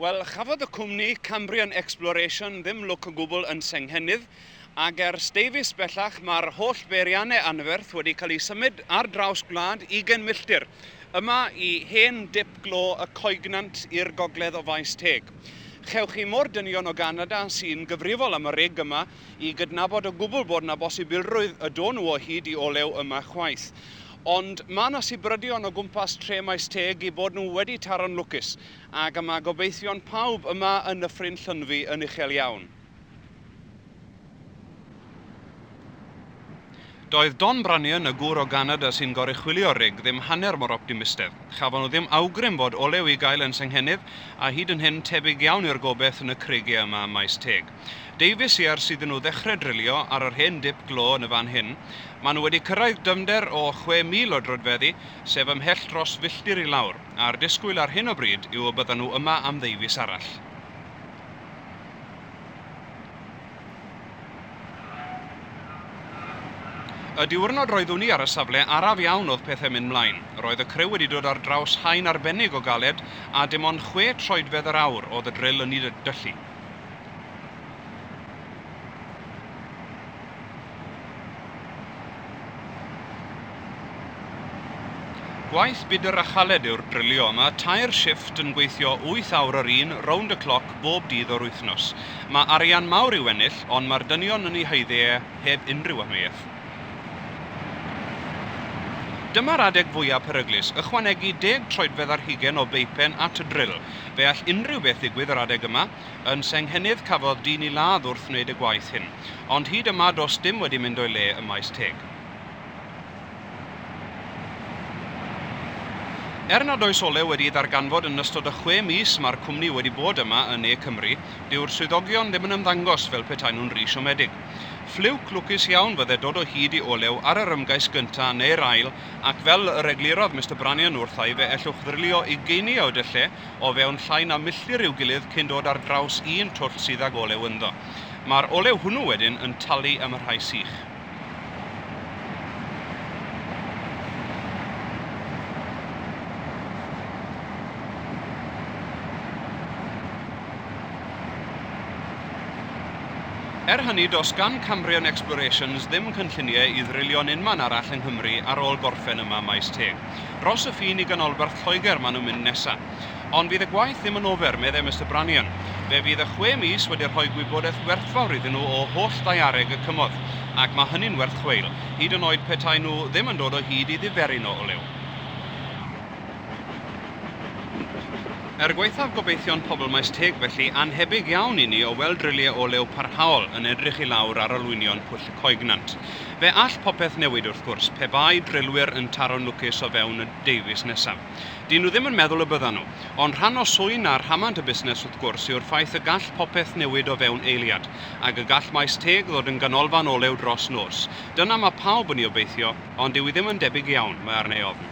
Wel, chafodd y cwmni Cambrian Exploration ddim lwc o gwbl yn Senghennydd, ac ers Davies bellach mae'r holl beiriannau anferth wedi cael eu symud ar draws gwlad ugain milltir, yma i hen dip glo y Coegnant i'r gogledd o Faes Teg. Chewch chi mor dynion o Ganada sy'n gyfrifol am y rig yma, i gydnabod o gwbl bod yna bosibilrwydd y do'n nhw o hyd i olew yma chwaith. Ond mae yna sibrydion o gwmpas tre Maes Teg eu bod nhw wedi taro'n lwcus, ac y mae gobeithion pawb yma yn Nyffryn Llynfi yn uchel iawn. Doedd Don Brannion, y gŵr o Ganada sy'n goruchwylio rig, ddim hanner mor optimistedd. Chafon nhw ddim awgrym fod olew i gael yn Senghennydd, a hyd yn hyn, tebyg iawn yw'r gobaith yn y creigiau yma ym Maes Teg. Deufis i ers iddyn nhw ddechrau drilio ar yr hen dip glo yn y fan hyn. Maen nhw wedi cyrraedd dyfnder o 6,000 o droedfeddi, sef ymhell dros filltir i lawr, a'r disgwyl ar hyn o bryd yw y byddan nhw yma am ddeufis arall. Y diwrnod roeddwn i ar y safle, araf iawn oedd pethau'n mynd 'mlaen. Roedd y criw wedi dod ar draws haen arbennig o galed, a dim ond chwe troedfedd yr awr oedd y dril yn ei dyllu. Gwaith budr a chaled yw'r drilio, mae tair shifft yn gweithio wyth awr yr un, rownd y cloc, bob dydd o'r wythnos. Mae arian mawr i'w ennill, ond mae'r dynion yn ei haeddu e heb unrhyw amheuaeth. Dyma'r adeg fwyaf peryglus, ychwanegu deg troedfedd ar hugain o beipen at y dril. Fe all unrhyw beth ddigwydd yr adeg yma. Yn Senghennydd cafodd dyn i ladd wrth wneud y gwaith hyn. Ond hyd yma does dim wedi mynd o'i le ym Maes Teg. Er nad oes olew wedi ei ddarganfod yn ystod y chwe mis mae'r cwmni wedi bod yma yn Ne Cymru, dyw'r swyddogion ddim yn ymddangos fel petaen nhw'n ry siomedig. Ffliwc lwcus iawn fydde dod o hyd i olew ar yr ymgais gynta' neu'r ail ac fel yr eglurodd Mister Brannion wrtha i fe ellwch ddrylio ugeiniau o dylle o fewn llai na milltir i'w gilydd cyn dod ar draws un twll sydd ag olew ynddo. Mae'r olew hwnnw wedyn yn talu am y rhai sych. Er hynny, does gan Cambrian Explorations ddim cynlluniau i ddrilio'n unman arall yng Nghymru ar ôl gorffen yma Maes Teg. Dros y ffin i ganolbarth Lloegr maen nhw'n mynd nesaf. Ond fydd y gwaith ddim yn ofer, meddai Mister Brannion. Fe fydd y chwe mis wedi rhoi gwybodaeth werthfawr iddyn nhw o holl ddaeareg y cymorth, ac mae hynny'n werth chweil, hyd yn oed petaen nhw ddim yn dod o hyd i ddiferyn o olew. Er gwaethaf gobeithion pobl Maes Teg felly, annhebyg iawn i ni o weld drylliau olew parhaol yn edrych i lawr ar olwynion Pwll y Coegnant. Fe all popeth newid wrth gwrs, pe bai drylwyr yn taro'n lwcus o fewn y deufis nesaf. Dy'n nhw ddim yn meddwl y byddan nhw. Ond rhan o swyn a rhamant y busnes wrth gwrs yw'r ffaith y gall popeth newid o fewn eiliad. Ac y gall maes teg ddod yn ganolfan olew dros nos. Dyna mae pawb yn ei obeithio, ond dyw hi ddim yn debyg iawn, mae arna i ofn.